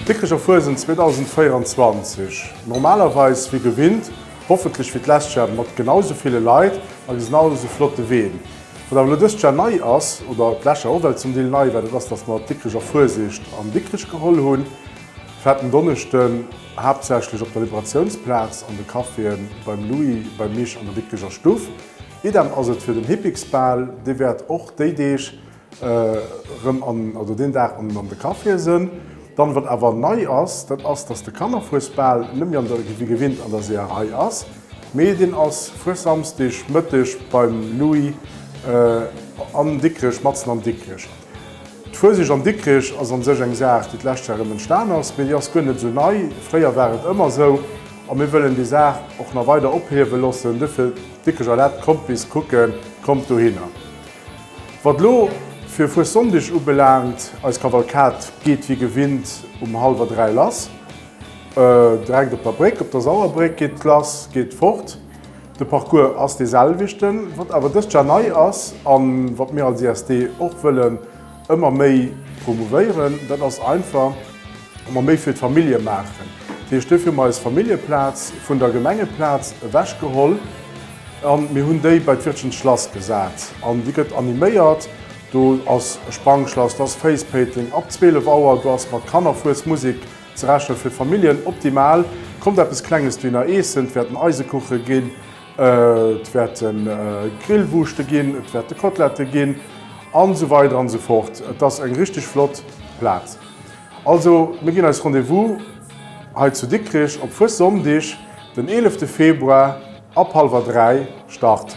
Dikricher Fuesent 2024, normalerweis wéi gewinnt, hoffentlech wéi d'lescht Jar mat genau esou ville Leit a genau esou flotte Ween. Wat awer elo dëst Jar nei ass, oder d'lescht Jar och well zum Deel nei war, dat ass, dass mer d'Dikricher Fuesiecht an Dikrich geholl hunn, fäerten en Donneschden, haaptsächlech op der Liberatiounsplaz, an de Caféen, beim Louis, beim Mich an der Dikricher Stuff. Idem ass et fir den Hippiksbal, dee wäert och déi Deeg erëm an, oder deen Dag an de Caféë sënn. Dann, wat awer nei ass, dat ass, dass de Kannerfuesbal net méi an der, wéi gewinnt, an der Seeërei ass, mee deen ass Fuessamsdeg Mëtteg beim Louis an Dikrech, matzen an Dikrech. D'Fueseg an Dikrech ass an sech eng Saach, déi d'lescht Joer erëm entstan ass, mee déi ass guer net esou nei. Fréier war et ëmmer esou a mir wëllen déi Saach och nach weider ophiewe loossen. Duerfir. Wierklech erlaabt, kommt bis kucken, kommt dohinner. Wat elo fir Fuessonndeg ubelaangt, eis Kavalkad geet wéi gewinnt um hallwer dräi lass. Direkt op der Bréck, op der Sauerbréck geet d'Lass, geet fort. De Parcours ass dee selwechten. Wat awer dëst Jar nei ass a wat mir als ISD och wëllen, Ëmmer méi promouvéieren, dat ass einfach ëmmer méi fir d'Famillje maachen. Dat heescht, dofir hu mer eis Familljeplaz vun der Gemengeplaz ewechgeholl a mir hunn déi bei d'Wirtschens Schlass gesat. An déi gëtt animéiert. Do ass e Sprangschlass, do ass Facepating ab 12 Auer, do ass mat Kannerfuesmusek ze rechnen. Fir d'Familljen optimal. Kommt eppes Klenges duerno eessen, et wäerten Eisekuche ginn. Et wäerte Grillwurschte ginn, et wäerte Kotlette ginn an esou weider an esou fort. Et ass eng richteg flott Plaz. Also mir ginn eis Rendez-vous hei zu Dikrich op Fuessonndeg, den 11 Februar ab hallwer 3 Start.